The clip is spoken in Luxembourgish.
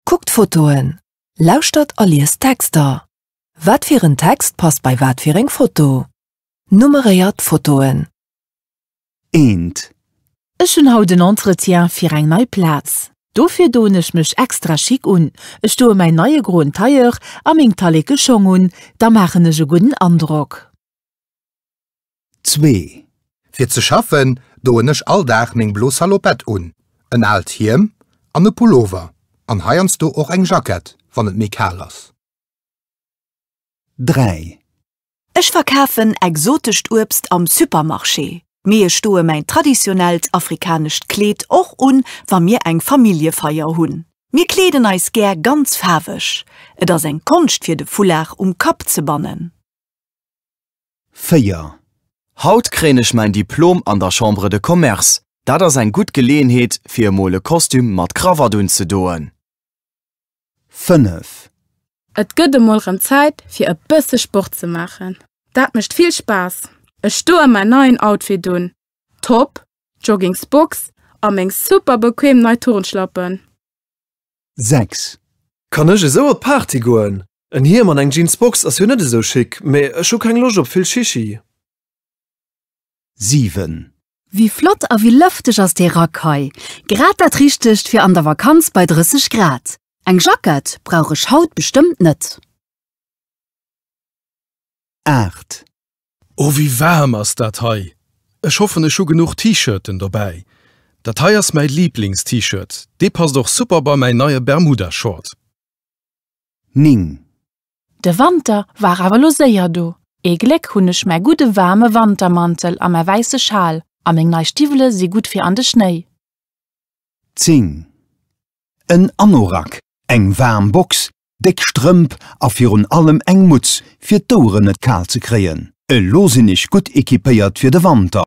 Kuckt Fotoen, lauschtert a liest Texter. Wat fir en Text passt bei wat fir eng Foto? Nummeréiert d'Fotoen. Eent. Ech hunn haut en Entretien fir eng nei Plaz. Dofir doen ech mech extra schick un. Ech doe mäin neie groen Tailleur a meng talleke Schong un, da maachen ech e gudden Androck. Zwee. Fir ze schaffen, doen ech all Dag meng blo Salopette un, en aalt Hiem an e Pullover an heiansdo och eng Jackett, wann et méi kal ass. Dräi. Ech verkafen exotescht Uebst am Supermarché, mee ech doe mäin traditionellt afrikanescht Kleed och un, wa mir eng Familljefeier hunn. Mir kleeden eis gär ganz faarweg. Et ass eng Konscht fir de Foulard um Kapp ze bannen. 4. Haut kréien ech mäin Diplom an der Chambre de Commerce. Dat ass eng gutt Geleeënheet fir emol e Kostüm mat Krawatt unzedoen. 5. Et gëtt emol rëm Zäit fir e bësse Sport ze maachen. Dat mécht vill Spaass. Ech doe mäin neien Outfit un, Top, Joggingsbox a meng super bequem nei Turnschlappen. 6. Kann ech esou op d'Party goen? En Hiem an eng Jeansbox ass jo net esou chic, mee ech hu keng Loscht op vill Shishi. 7. Wéi flott a wéi lëfteg ass dee Rack hei! Grad dat richtegt fir an der Vakanz bei 30 Grad. Eng Jackett brauch ech haut bestëmmt net. 8. Oh wéi waarm ass dat hei! Ech hoffen ech hu genuch T-Shirten dobäi. Dat hei ass mäi Liiblings T-Shirt, dee passt och super bei mäi neie Bermuda Short. 9. De Wanter war awer lo séier do. Ee Gléck hunn ech mäi gudde waarme Wantermantel a mäi wäisse Schal a meng nei Stiwwele si gutt fir an de Schnéi. 10. En Anorak, eng waarm Box, déck Strëmp a virun allem eng Mutz fir d'Oueren net kal ze kréien. Elo sinn ech gutt equipéiert fir de Wanter.